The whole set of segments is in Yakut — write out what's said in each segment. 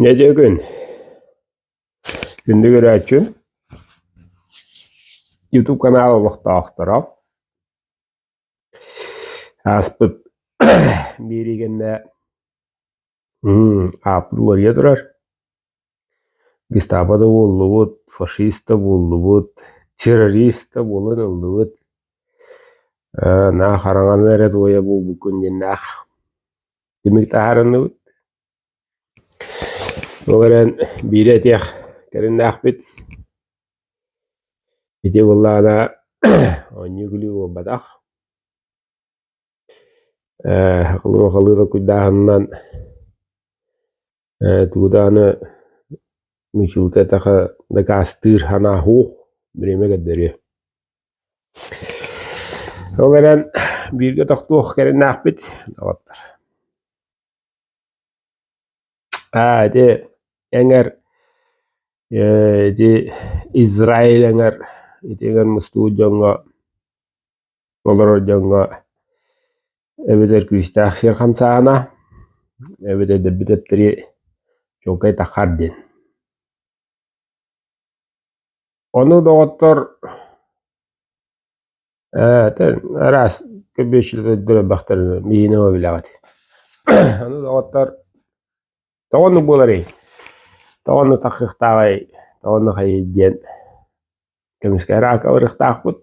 Нэдиэгин инник эрээччи ютуб канаал олохтоохторо ааспыт биэриигэннэ ааппыт уларыйа турар Гестапо да буоллубут, фашиста буоллубут, террориста буолан ыллыбыт, ээ наа хараҥаны эрэ туойа буолбуккун диэн аах түмүк таһаарынныбыт. Ол эрэн биири этиэх кэриннээхпит. Ити буоллаҕына оонньуу күлүү буолбатах. Ээ, луохалыыга куйдааһынынан ээ тугу даҕаны нучулка-этаха дакаастыыр анааһуух бириэмэ көрдөрүө. Ол эрэн бииргэ тохтуох кэриҥнээхпит доҕоттор. Аа ити эҥэр ээ ити Израиль эҥэр ити эҥэр мустубут дьоҥҥо Олорор дьоҥҥо эбэтэр күүстээх сир хамсааһына, эбэтэр өлбүт эттэри чуолкай таххар диэн. Ону доҕоттор араас көбүөрчүлэр өлбөхтөрүнө миинэ билэҕит. Аны доҕоттор Тоҕо оннук буоларый? Тоҕо оннук тахсыахтааҕай, тоҕо оннук хайыый диэн көмүскэ эрэ ырыктаахпыт.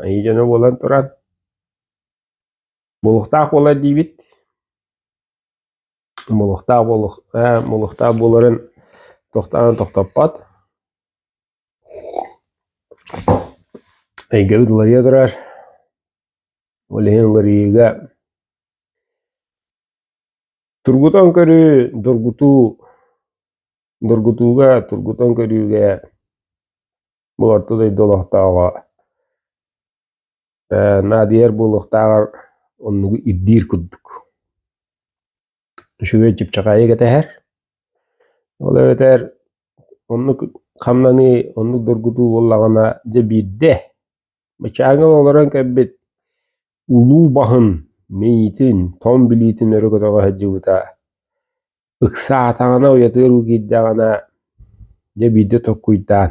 Айыы дьоно буолан туран мулуктаах буолар диибит. Мулуктаах буолух, э, мулуктаах буоларын тохтоон тохтоппот. Эйгэбит уларыйа турар, ол иһин уларыйыыга тургутан көрүү, дургутуу, дургутууга, тургутан көрүүгэ, буларта дойду олохтооҕо наадыйар буолуохтааҕар оннугу ирдиир курдук. Үчүгэй чыпчаҕайы кэтэһэр. Ол эбэтэр оннук хамнаныы, оннук доргутуу буоллаҕына, дьэ биирдэ бачааҥҥа олорон кэлбит улуу баһын мэйиитин, тоҥ билиитин өрө көтөҕө сылдьыбыта ыксаатаҕына, уйатыар уу киирдэҕинэ, дьэ биирдэ tokkуйдаан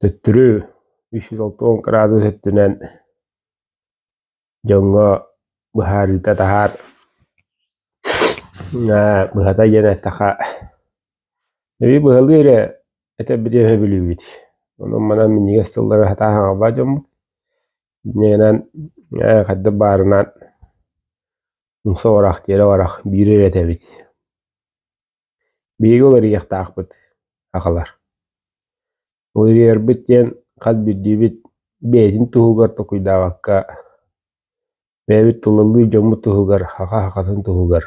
Төттөрү үс сүүс алта уон кыраадыс өттүнэн дьоҥҥо быһаарыыта таһаар быһата диэн эттэхэ эбии быһалыы эрэ этэбити өһө бүлүүбүт. Онон манан минньигэс тыллары сатаан саҥарбат дьоммут. Дьиҥинэн хайдах баарынан умса барах тиэрэ барах биирэр этэбит. Биһиги уларыйыахтаахпыт, аҕалар. Уларыйарбыт диэн хас биирдиибит бэйэтин туһугар толкуйдаабакка, бэйэбит тулалыыр дьоммут туһугар, аҕа аҕатын туһугар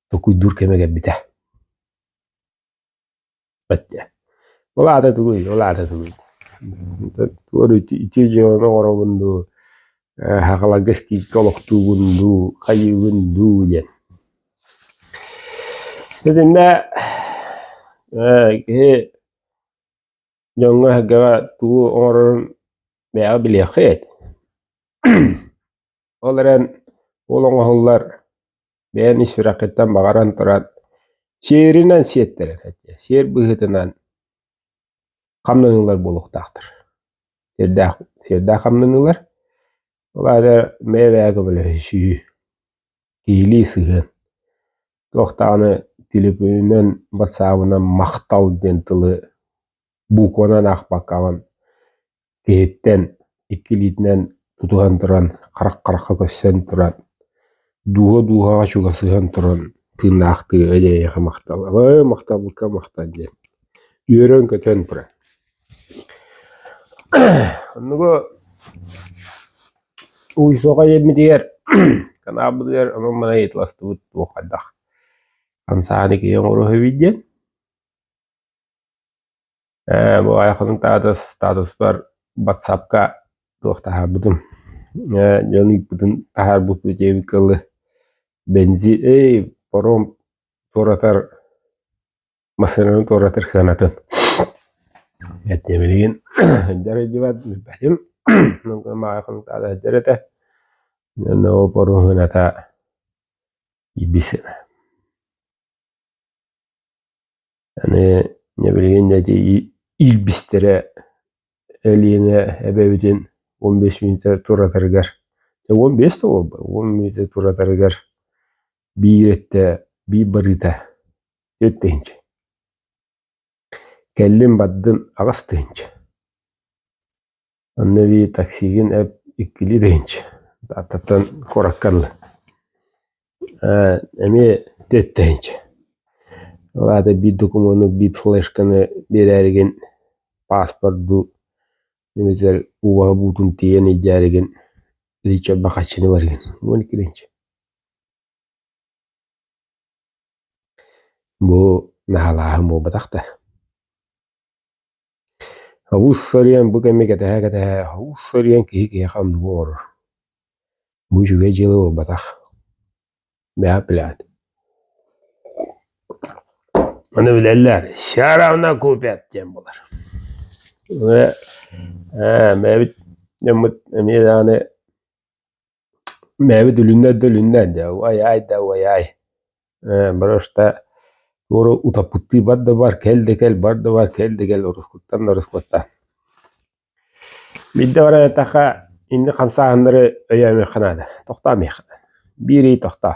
толкуйдуур кэмэ кэлбитэ. Ол аата тугуй, ол аата тугуй? Тугу ити дьыаланы оҥоробун дуу, Хаҕаларга скидка олохтуубун дуу, хайыыбын дуу диэн. Итиннэ ээ киһи дьоҥҥо эһэргэҕэ тугу оҥорорун бэйэҕэ билиэххиэт. Ол эрэн уол оҥоһуллар бэйэн ис сүрэххиттэн баҕаран туран сиэринэн сиэттэрэн этиэ, сиэр быһыытынан хамнаныылар буолуохтаахтар. Сиэрдээх сиэрдээх хамнаныылар. Ол аата бэйэ-бэйэгэ көмөлөһүсүү. Киһилии сыһыан, туох даҕаны телефонунан батсаабынан «махтал» диэн тылы букванан аахпаккабын киһиттэн икки илиитинэн тутуһан туран харах-харахха көстөн туран дууһа-дууһаҕа чугасыһан туран тыыннаахтыы «эдьээйиэхэ махтал, махталбыкка махтал» диэн үөрэн-көтөн туран Оннугу уисуохай иэммитигэр Канаабытыгар онон-манан ыйыталастыбыт туох хайдах хамсааны киһи оҥоруһуйбүт диэн. Ээ бу айхатын статус статуспар батсапка туох таһаарбытым. Ээ дьон ыыппытын таһаарбыппыт диэбит кылы бензин эй паром туоратар массыынаны туоратар сыанатын эттэ билигин дьарыйдыбат билбэтим этэ ол поруһуната ибис аны билигин эти илбистэрэ элиэнэ эбэбитин он бес мүнөтө туратарыгар он бес да буолбай он мүнөтө туратарыгар биир этэ биир барыыта Тыһыынча кэллим бардым аҕыс тыһыынча онно эбии таксигын эп иккилии тыһыынча атыттан куоракка ыллым ээ эмиэ түөрт тыһыынча ол аата биир докумуону биир флешканы биэрээригин пааспордуу эбэтэр ууһа буутун тиэйэн илдьээригин лича бахаччыны барыгын уон икки тыһыынча Бу наһалааһын буолбатах да. Олус сылыйан бу кэми кэтэһэ-кэтэһэ олус сылыйан киһи киһиэхэ оннугу оҥорор. Бу үчүгэй дьыала буолбатах. Бэҕэ билээт. Ону билэллэр «Сяравна купят» диэн буолар. Ээ, бэйэбит дьоммут эмиэ даҕаны Бэйэбит үлүннэр да үлүннэр дьэ уай-аай да уай-аай ээ брошта туору утаппыттыы бар да бар кэл да кэл бар да бар кэл да кэл ороскуттан да ороскутта Биирдэ баран эттэххэ инник хамсааһыннары өйөөмүөххэ наада тохтоомуохха биир ый тохтоо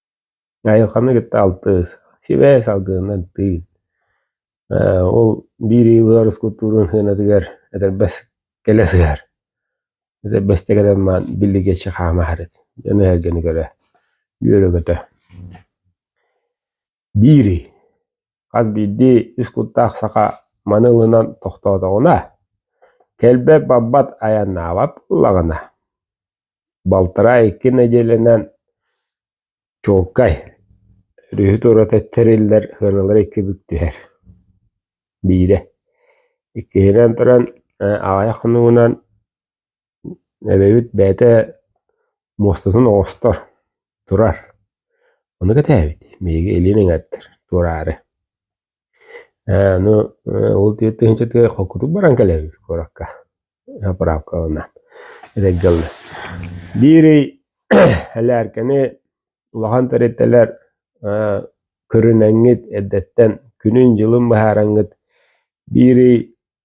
Айылханы кытта алтыс, сибээс салгыаннан тыын. Э, ол биир ыйылыгар ускуптуурун сыанатыгар этэрбэс кэлэ сыһар. Этэрбэсте кэлэн маан биллигиэччи хаама аһарыт. Дьону эһэргэни көрө, үөрөгөтө. Биири Хас биирдии үс куттаах саха маны ылынан тохтоотоҕуна, кэлбэт-барбат айаннаабат буоллаҕына, балтараа икки нэдиэлэнэн чуолкай, өрүһү-тураты тэриллэр сыаналара икки бүк түһэр. Биирэ, иккиһинэн туран, аҕыйах хонугунан Эбэбит бэйэтэ муостатын оҥостор, турар. Ону кэтээбит, биһиги илиин эҥэрдэр, туораары. Ээ аны ол тыһыынчатыгар холкутук баран кэлэбит куоракка поправкаланан эдэр дьаллы. Биир ый элээркэни улахан тэрилтэлэр көрүнэҥҥит, эрдэттэн күнүн-дьылын быһаараҥҥыт биир ый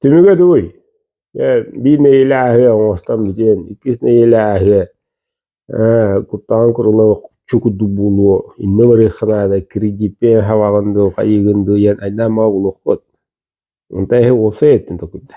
Түмүгэ дуй, биир нэһилиэһи оҥостон бүтэн, иккис нэһилиэһи куттаҕын курулла охчу курдук буолуо, иннэ барыахха наада, кредиппиэн хабаҕын дуу, хайыыгын дуу диэн айдаан баҕа булуоххут. Онтон эһи уопсай өттүн толкуйда.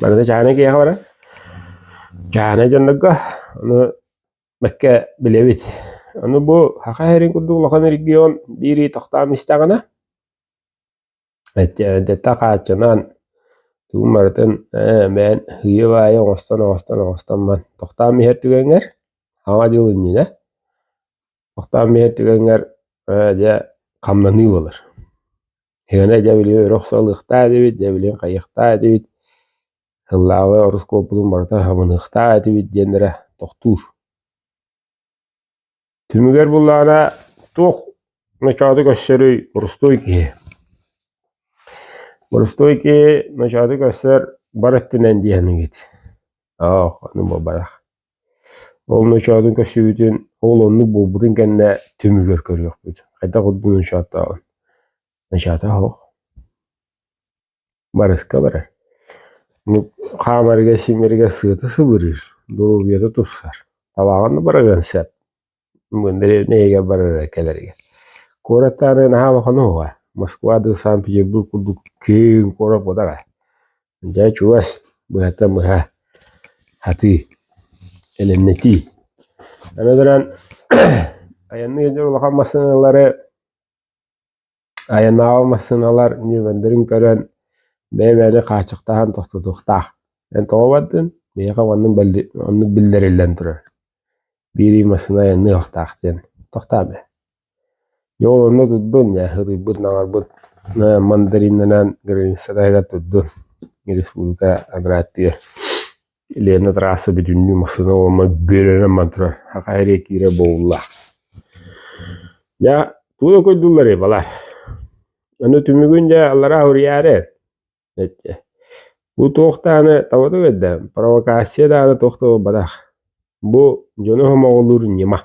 Барыта чаанай киһиэхэ барар. Чаанай дьоннорго ону бэккэ билэбит. Ону бу Саха сирин курдук улахан регион биири тохтоон истэҕинэ эттэ хааччынан тугун барытын ээ бэйэн ыйы-баайы оҥостон-оҥостон оҥостоммон тохтоон иһэр түгэҥҥэр саҥа дьыл иннинэ тохтоон иһэр түгэҥҥэр ээ дьэ хамнаныы буолар. Сыана дьэбилиэ өрө охсуһалыахтаах этибит, дьэбилиэн хайыахтаах этибит, ыллаабай ороскуоппутун барыта хабыныахтаах этибит диэннэрэ тохтуур. Түмүгэр буллаҕына туох ночооту көрсөрүй борустуой киһи? Борустуой киһи ночооту көрсөр бар өттүнэн диэхинигит. Аах, аны бабайах. Ол ночоотун көрсүбүтүн, ол оннук буолбутун кэннэ түмүгэр көрүөхпүт. Хайдах ордук ночооттооҕун. Ночоото оһох. Барыска барар. Хаамарыгар-симмэригэр сыата сыбырыыр, доруобуйата тупсар. Табааҕар да барыан сөп. дэриэбинэйгэ барыа кэлэригэр куораттааҕы наһаа улахан уһуга москва дуу санкт-петербург курдук киэҥ куорат буолар ээ дьэ чугас быһата быһа сатыы элэмнэтии аны туран айанныыр дьон улахан массыыналары Айанааҕы массыыналар ньүөмэрдэрин көрөн, бэйэ мээни хааччахтаһан тохтотуохтаах. Эн тоҕо бардыҥ? Миэхэ маннык оннук биллэриллэн турар. Биирии массыына айанныахтаах диэн. Тохтоо бээ. Дьэ ол онно турдун, ыһыытыйбыт, наҕарбыт мандаринанан граница таһыгар турдун. Республика аграрытыгар Лена трасса бүтүннүү массыына уонна бүөрэнэн баран турар, хахаайа эрэ киирэр бобуллаах. Дьэ тугу да көрдүүллэрий балар? Аны түмүгүн дьэ аллараа уруйаары эчи. Бу туох дааны табатык эрдэ провокация дааны туох да буолбатах. Бу дьону хомоҕолуур ньыма.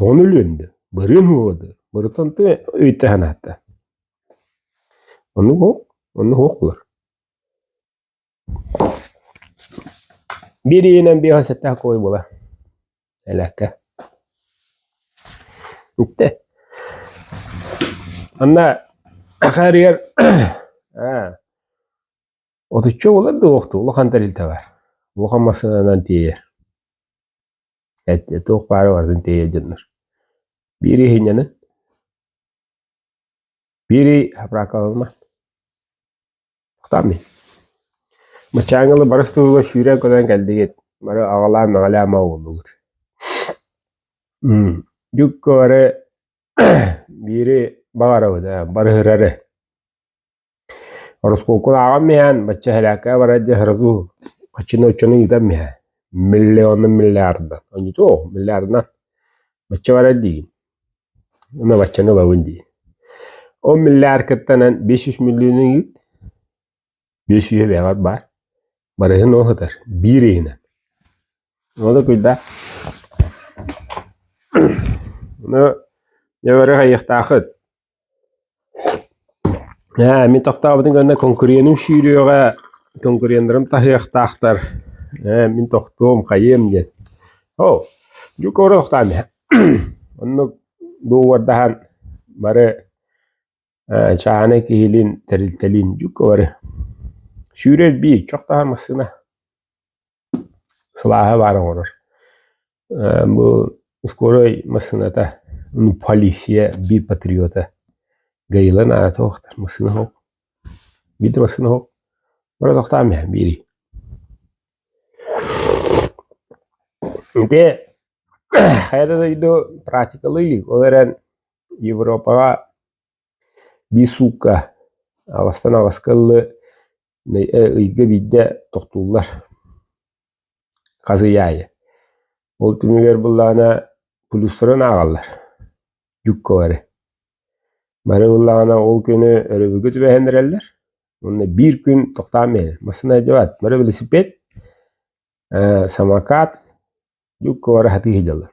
Оҕону өлүөннэ, барыан уолады, барытан ты өйдө санаата. Ону онно хоһулар. Биир иһинэн биир сэттээх кой була. Элэккэ. Итте. Анна ахаарыгар отучча болар да уохту улахан тарилтэ бар. Улахан массаанан тиэйэр. Эттэ туох баары барытын тиэйэ дьоннор. Биири иһинньэнэн, биири хапраакаланыман. Хтаан мин. Мачаангалы барыс туруга сүүрэн көрөн кэлдигит. Бары аҕалаан мэҕэлээн маа буоллубут. Дьукку бары биири баҕарабыт, барыһырары. Ороскуокулааҕым иһээн бачча эһэлээккэ барар диэ сразу оччону оччону ыытам иһэ миллиона миллиарда онньутуо миллиарда бачча барар диигин уонна баччаны ылабын дии ол миллиар кыттанан биэс сүүс миллион ыйыыт биэс сүүс эбээҕэр баар барыһын ол сытар биир ыйынан ол да куйдах ону дьэ бары хайыахтаахыт Ээ, мин тохтообутум уонна конкуренум сүүрүөҕэ, конкуреннарым таһыахтаахтар. Ээ, мин тохтуом, хайыам диэн. Оо, дьукууру тохтоон иһэ. Оннук дууардаһан бары ээ чааһынай киһилиин тэрилтэлиин дьука бары сүүрэр биир, чохтоһор массыына. Сылааһа баар оҥорор. Бу ускорой массыыната ну полиция би патриота гайылан аата охтар массыына ох биирдэ массыына ох бара тохтаам иһэ биэрий ити хайа да дойду практикалыы илик ол эрэн европаҕа биир суукка аластан аласка ыллы ыйга биирдэ тохтууллар хас ый аайы ол түмүгэр буоллаҕына плюстарын ааҕаллар дьукка бары бары буоллаҕына ол күнү өрөбүлгэ түбэһэн эрэллэр уонна биир күн тохтоон биэрэр массыына дьабаат бары велосипед самокат дьукка бары сатыы сылдьаллар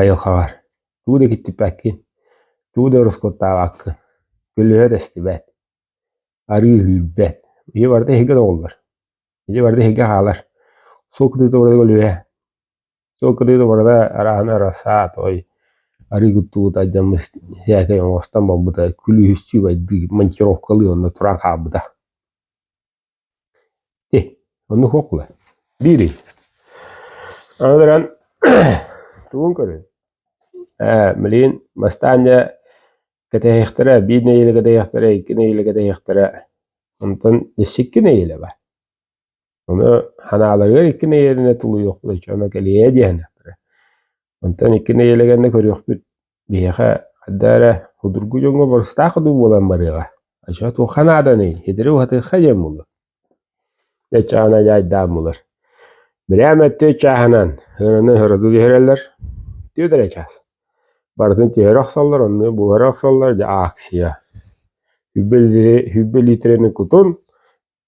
Айылҕаҕар тугу да киттипэккин, тугу да ороскуоттаабаккын, көлөһө да истибэт, арыы үүрбэт. Ийэ барыта эһиги да оҕоллор, ийэ барыта эһиги хаалар. Сол кытыыта барыта көлөһө, сол кытыыта барыта арааны ара саатой, арыы куттуута дьаммыс сээкэй оҥостон барбыта, күлүүһүстүү байдыы монтировкалыы онно туран хаалбыта. Ih, оннук уокула. Биирий, аны туран тугун көрүн? Ээ, билигин бастаан дьэ кэтэһиэхтэрэ, биир нэһиилэ кэтэһиэхтэрэ, икки нэһиилэ кэтэһиэхтэрэ. Онтон икки нэһиилэ баар. Ону ханааларыгар икки нэһиилэ тулуйуохпут оччо, ону кэлиэһэ диэхтэрэ. Онтон икки нэһиилэ кэннэ көрүөхпүт. Биһиэхэ хайда эрэ судургу дьоҥҥо барыстаах дуу буолан барыаҕа, оччо туохха нааданый, хитири уһатыахха диэн буолуо. Дьэ чаана дьаайдаан булар. Бирээм эттиэ чааһынан ыыраны ыһырызы түһэрэллэр. Түөрт эрэ чаас. Барытын түһэрэ охсоллор, онно буһара охсоллор, дьэ ааксыйа. Сүбэ литрини кутун,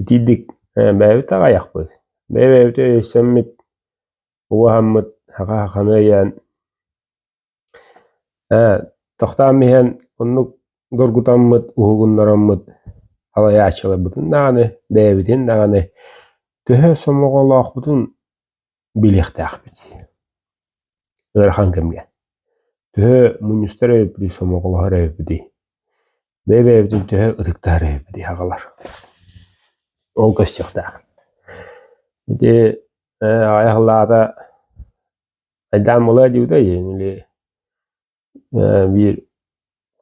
Итиитик бэйэбит аҕайахпыт, бэйэ-бэйэбитин өйөссөммүт, убаһаммыт хаха-хаханы өйөөн ээ тохтоон иһэн оннук доргутаммыт, уһугуннараммыт салайааччыларбытын даҕаны, бэйэбитин даҕаны төһө сомоҕолоохпутун билиэхтээхпит ыарахан кэмҥэ төһө мунньустар эбиппитий сомоҕолоһор эбиппитий бэйэ-бэйэбитин төһө ытыктаһар эбиппитий аҕалар ол көстүөхтээх ити аҕай аһыллаата айдаан буолайа диюдай или биир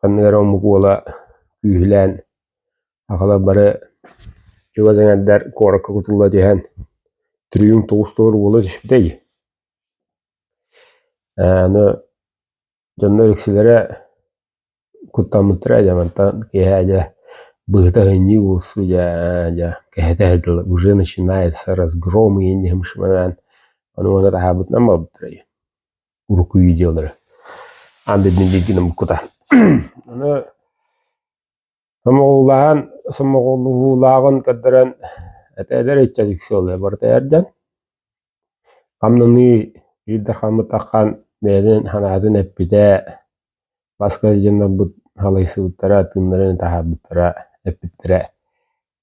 ханнык эрэ омук уола күүһүлээн сахалар бары чугас эҥэрдэр куоракка кутулла түһэн триумф тоҕус толору буола түспүтэй аны дьонно үксүлэрэ куттаммыттара дьэ мантан киэһэ дьэ быһыта ыһынньыы буолсу дьэ дьэ кэһэтэ ыһытылла уже начинается разгром иһин диэхим бишманаан ону манна таһаабытынан буолбуттара уруккуйуу дьыалалары аан дойдуну бииргэ гынан буккута аны сомоҕолуулааһын сомоҕолуулааҕын көрдөрөн этээлэр ыччат иксиолуйа барыта эрдэн хамнаныы биирдэ хаммыт аххан бэйэтин санаатын эппитэ маска дьоннорбут халайсыбыттара тыыннарын таһаарбыттара эппиттэрэ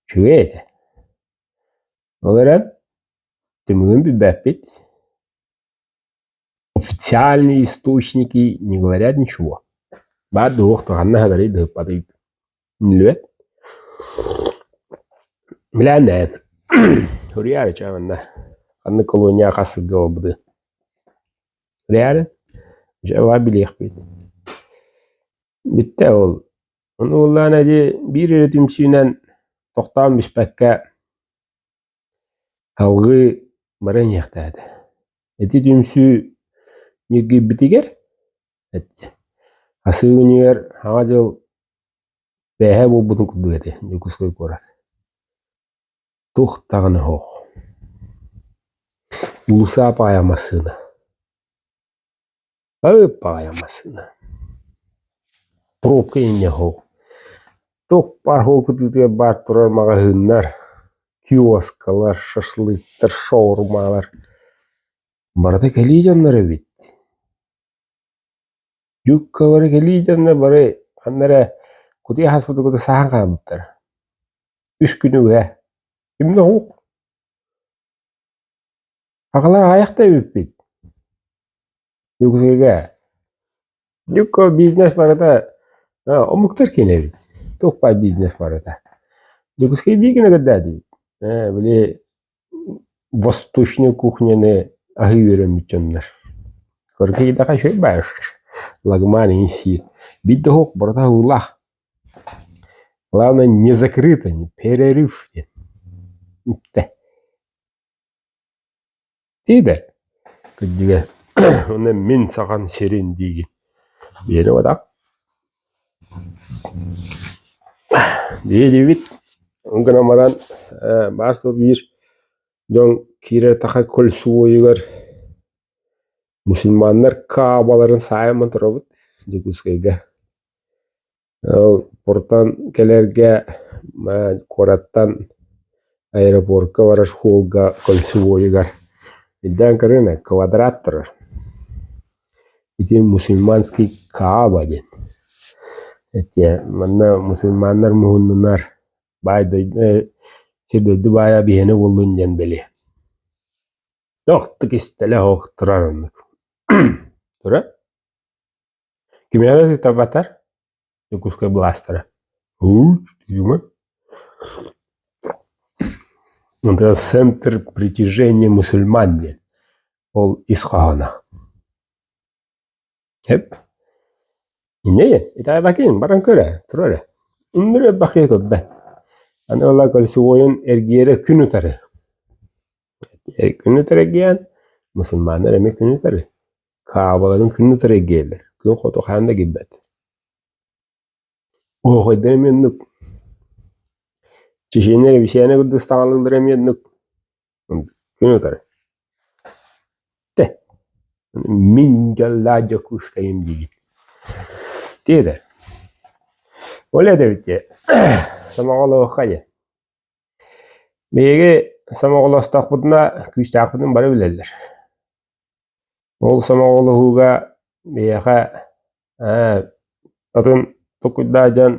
үчүгэй этэ ол эрэн түмүгүн билбэппит Официальные источники не говорят ничего. Баар да уох ханна сынарый да сыппатый. Билбэт. Билэн дээн суруйаарыча манна ханнык колония хас сылга буолбутуй. Суруйаары дьэ билиэхпит. Бүттэ ол. Ону буллаан эди биир өрө түмсүүнэн тохтоон бүспэккэ Салгыы бары эниэхтээт, ити түмсүү ньиргийбитигэр Асыыньыгар Саҥа дьыл бээһэ буолбутун курдук этэ Дьокуускай куорат. Туох даҕаны суох. Уулусса паайа массыына. Ып-аҕай массыына. Пробка инньэ оһол. Туох баар оһол кытыытыгар баар турар маҕаһыыннар, киоскалар, шашлыктар, шаурмалар. Барыта кэлии дьоннор эбит. Юбкалары кэлии дьоннор бары ханна эрэ кутуйа ааспытын кытта саһан хаалбыттара. Үс күн уйа. Имнэ оһук. Аҕалар аҕыйах да эбиппит. Өксөге. Дьукко бизнес барыта э, омуктар кэлэбит. Тукпай бизнес барыта. Дьокуускай биигин ыгырдаадыбыт. Э, били восточной кухняны аһыы үөрэммит дьоннор. Көргө даха шөй бааш. Лагман инсир. Бит да оһох барыта аһыылаах. Главное не закрыто, перерыв диэн үптэ. Тиде күддүгэ уонна мин саҕан сирин диигин биэрэ атак биэдибит гынан баран баас да биир дьон кииретаха кольцевойугар мусульманнар каабаларын саайаммын турабыт Дьокуускайга Ол куртан кэлэргэ куораттан аэропуорка барар школга кольцевойугар ирдээн көрүҥ ээ квадрат турар ити мусульманский кааба диэн этиэ манна мусульманнар муһуннунар баай дойду сир дойду баайа биһиэнэ буоллун диэн бэлиэ охтук истэлэ оһох турар оннук тура Кимиэхэ ситабатар Дьокуускай былаастара Центр притяжения мусульман диэн ол ис хоһооно Эп инэйэн итээбакиин баран көр ээ тура эрэ иннибэр бэхиэ көрбөт аны ыла кольцевойун эргиэрэ күн утары күн утары эргийэн мусульманнар эмиэ күн утары Каабаларын күн утары эргийэллэр, күн хоту хаһан да киирбэт Оһохойдор эмиэ оннук. Чеченья кэбисээнэ курдук стаҥалыыллара эмиэ оннук. Күн утары. Тэ, мин дьаллаа дьокуускайым диибит. Тиэтэр. Ол этэбит дьэ, сомоҕолоохха дьэ. Биһиги сомоҕолостохпутуна күүстээхпитин бары билэллэр. Ол сомоҕолоһууга биһиэхэ ээ атын токуйдаах дьон,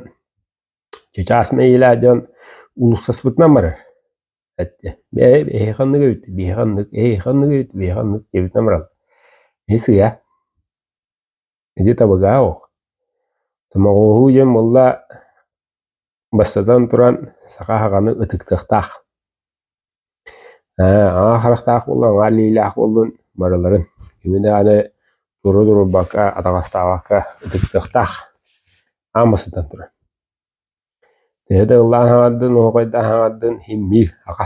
чычаас мэйиилээх дьон уулуссаспытынан барар. Эһиэхэ оннук эбит, биһиэхэ оннук, эһиэхэ оннук эбит, биһиэхэ оннук диэбитинэн бараллар. Ити сыыйа. Ити табыгаах ох. Томоҕоһуу диэн буолла бастатан туран саха аһаҕаны ытыктыахтаах. Ээ аҥаар харахтаах буоллун, аҥаар илиилээх буоллун барыларын. Кими даҕаны туру турбакка, атаҕастаабакка ытыктыахтаах аан бастатан туран. Төһө да ыллаан хаҥардын, оһоҕойдоон хаҥардын, иһиммиир аха.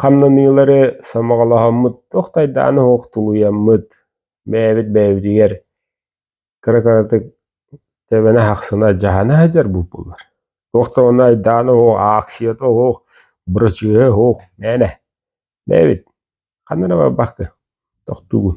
Хамнаныылары сомоҕолоһоммут туох да айдаана суох тулуйаммыт, бэйэбит бэйэбитигэр кыра-кыратык тэбэнэ ахсына адьаһана сылдьар буоллулар. Туох да ону айдаана суох, ааксыйата суох, бырачыыһа суох, мээнэ. Бэйэбит ханна эрэ барбакка тохтуугун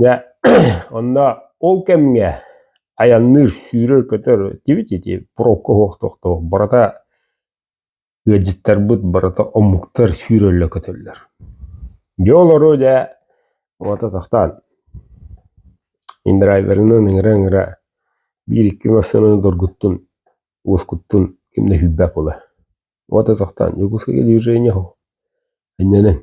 Дьэ, онно ол кэмҥэ айанныыр, сүүрэр-көтөр итибит ити пробка суох тохтоох барыта ыалдьыттарбыт барыта омуктар сүүрэллэр-көтөллөр. Дьэ олору дьэ уота тахтаан индрайверынан ыҥыра-ыҥыра биир-икки массыынаны доргуттун, уоскуттун ким да сүүрбэт буолар. Уота тохтоон Дьокуускайга движение аһыҥ, анньынан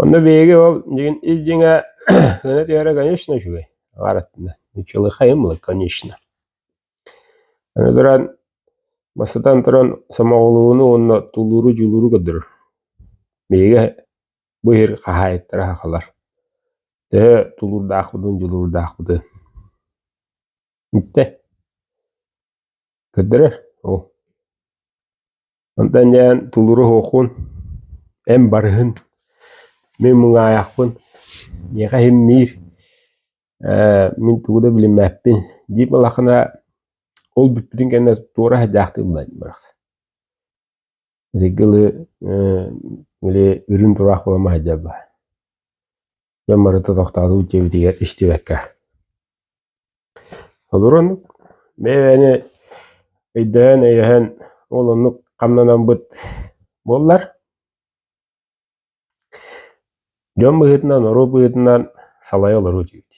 Онно биһиги ол дьиҥин ис дьиҥэ гына түһэрэ конечно үчүгэй аҥаар өттүнэн нычылыхайым ылык конечно аны туран бастатан туран сомоҕолууну уонна тулууру дьулууру көрдөрөр биһиги бу иһир хаһаайыттара сахалар төһө тулуурдаахпытын дьулуурдаахпытын бүтэ көрдөрөр ол Онтон инээн тулуру оһуохун, эн барыһын, мин муҥаайахпын, миэхэ иһиммиир, ээ мин тугу да билиммэппин, дип ылахына ол бүппүтүн кэннэ туора садьаахтыы булайдым барахсан. Итинки ылы, били үрүн тураах буола маһдьа баар. Дьон барыта тохтоотук дьиэбитигэр истибэккэ олорон бэйэни өйдөһөн-өйөһөн ол оннук хамнанаммыт буоллар дьон быһыытынан норуот быһыытынан салайа олоруу диибит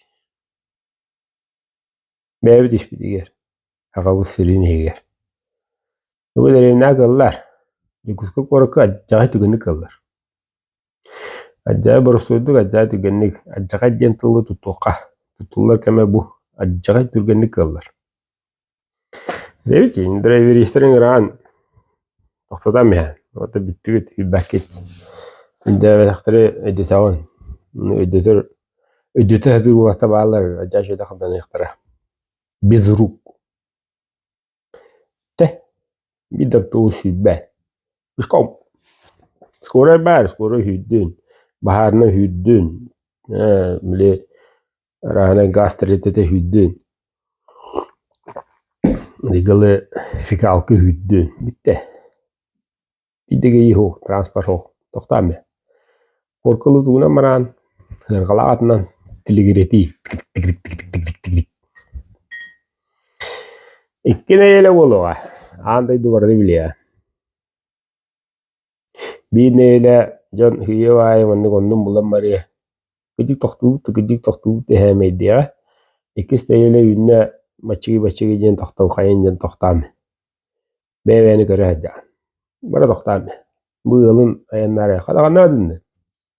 Бэйэбит испитигэр, аҕабыт сирин иһигэр. Бу дэриэбинэҕэ кыыллар. Дьокуускай куоракка адьаҕай түгэнник кыыллар. Адьаҕай боростуойдук, адьаҕай түргэнник, адьаҕай диэн тылы тутуохха. Тутуллар кэмэ бу. Адьаҕай түргэнник кыыллар. Дэбитин, драйверистэрин ыраан тохтотон иһэн, уонна бүттүгүт, билбэккит. Үндээбэтэхтэри өйдөтөҕүн. Аны өйдөтөр, өйдөтө сатыыр уолаттар бааллар, дьэ дьэ хабданыахтара. Без рук. Дэ, биир да оптуобус сүүрбэт. Пешком. Скорай баар, скорай сүүрдүн. Баһаарына сүүрдүн. Ээ, били Арааһынай гаас тэрилтэтэ үһүйдүн, ыйгылы фекалка үһүйдүн, бүттэ. Идэгэй иһу, транспорт тохтаам э. Куркылы тугунан мараан, сыарҕалаах атынан тилигиретии, тик-тик-тик-тик-тик-тик-тик. Икки нэйэлэ буолуоҕа, аан дойду барыны билиэ. Биир нэһилэ дьон ыһыйыах аайы маннык оннун булан барыа, кырдьык тохтуубут да кырдьык тохтуубут да эһээмэйдиэҕэ. Иккис нэһилэ үүннэ мачыгы-бачыгы диэн тохтолхайын диэн тохтоон иһин. Бэйэ-бэйэни көрө сылдьаҕын. Бары тохтоон иһин. Бу ыалын айаннаарыаха даҕаны наадыннар.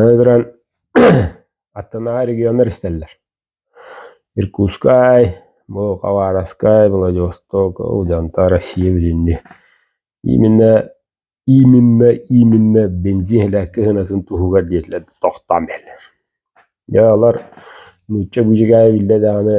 Өлөрөн аттынааҕы регионнар истэллэр. Иркутскай, бу Хабаровскай, Владивосток, ол дьонто Россия билинни. Именно именно именно бензин иһилээккэ ыһынатын туһугар диэтилэр тохтоон бэллэр. Дьэ олор нуучча быдьыгаайа биллэ даҕаны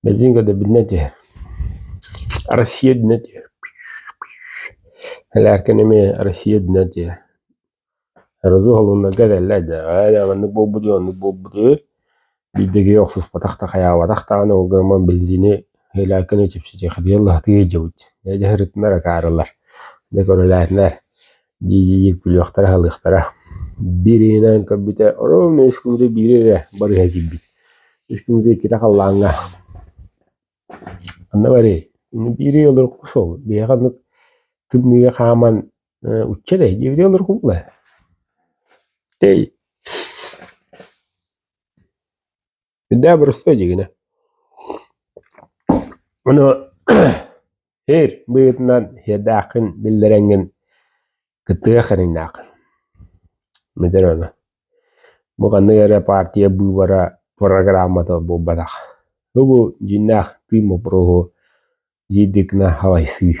Бензингэ да билинэ түһэр, Россия дэнэ түһэр, Лээкин эмиэ Россия дэнэ түһэр, разуһалыннарга этэллэр да ээ маннык буолбут үһү, оннук буолбут үһү, биирдэ киһи охсуспатах да, хайаабатах даҕаны ол гынан бензини Лээкини чэпчэтиэхитигэр сатыы илдьэбит, дьэ сырыттынар, акаарылар, дьэ көрүлээтинэр. дии-дии күлүөхтэрэ аһылыахтара. Биир иһинэн көрбүтэ ровно үс күммүтэ биири эрэ барыыһа киирбит. Үс күммүтэ иккитэ халлааҥҥа. Ханна барыай? Ини биири олорукку суол. Биһиэхэ оннук тымныыга хааман э, учча этэй диэбитэ олоруккубула. Тэй Үрдээх боростуой дьигинэ. Ону ир быытынан хиэрдээххин биллэрэҥҥин кыттыга хeriҥнээххин. Мүдэр ону. Бу ханнык эрэ партия быыбара программата буолбатах. Бу дьиннээх тыын боппуруоһу иирдиккинэ халайсыы.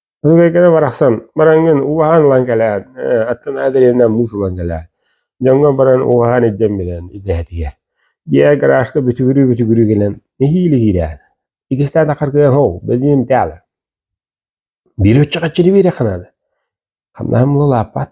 Ылыгыга барахсан бараҥҥын ууһаан ылан кэлээт, аттынаа дэриэбинэ муус ылан кэлээт, дьоҥҥо баран ууһаан илдьэн билэн идэһэтигэр. Дьиэ гаражка бүтүгүрүү-бүтүгүрүү гынан нэһиилэ-иһиилээн. Итистээтэ харгыаһоо, бэдиим таала. Биир өччө хаччыны биэриэххэ наада. Хамнаһым була лааппат.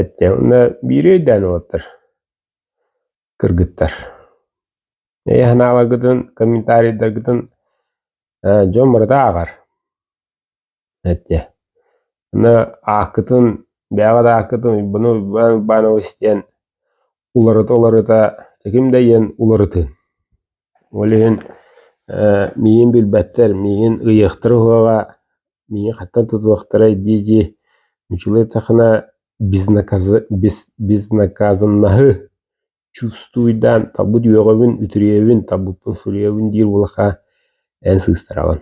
Эттэ уонна биири өйдөөн уолаттар кыргыттар өйө-санааларгытын, комментарийдаргытын ээ дьон барыта ааҕар эттэ аны ааккытын бэйэҕит ааккытын Уйбаана Уйбаан Уйбаанова истиэн уларыта-уларыта ким да ийэн уларытыын Ол иһин ээ миигин билбэттэр, миигин ыйыахтара уһуоҕа, миигин хантан тутуохтарай дии-дии училытехына безнаказы без безнаказаннаһы чувствуйдаан талбыт үөҕэбин, үтүрүйэбин, талбыппын суруйабын диир улахан эн сыыстараҕын.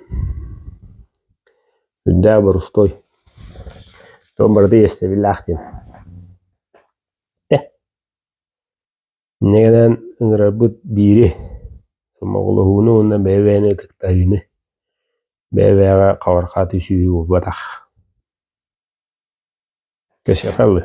Үрдээх борустуой. Тоом барыта иэстэбиллээх диэн. Тэ. Инньэ гынан ыҥырарбыт биири, сомоҕолоһууну уонна бэйэ-бэйэни ытыктаһыыны, бэйэ-бэйэҕэ хаҕырҕаа түсүүһү булбатах. Кэсиэхэ алыы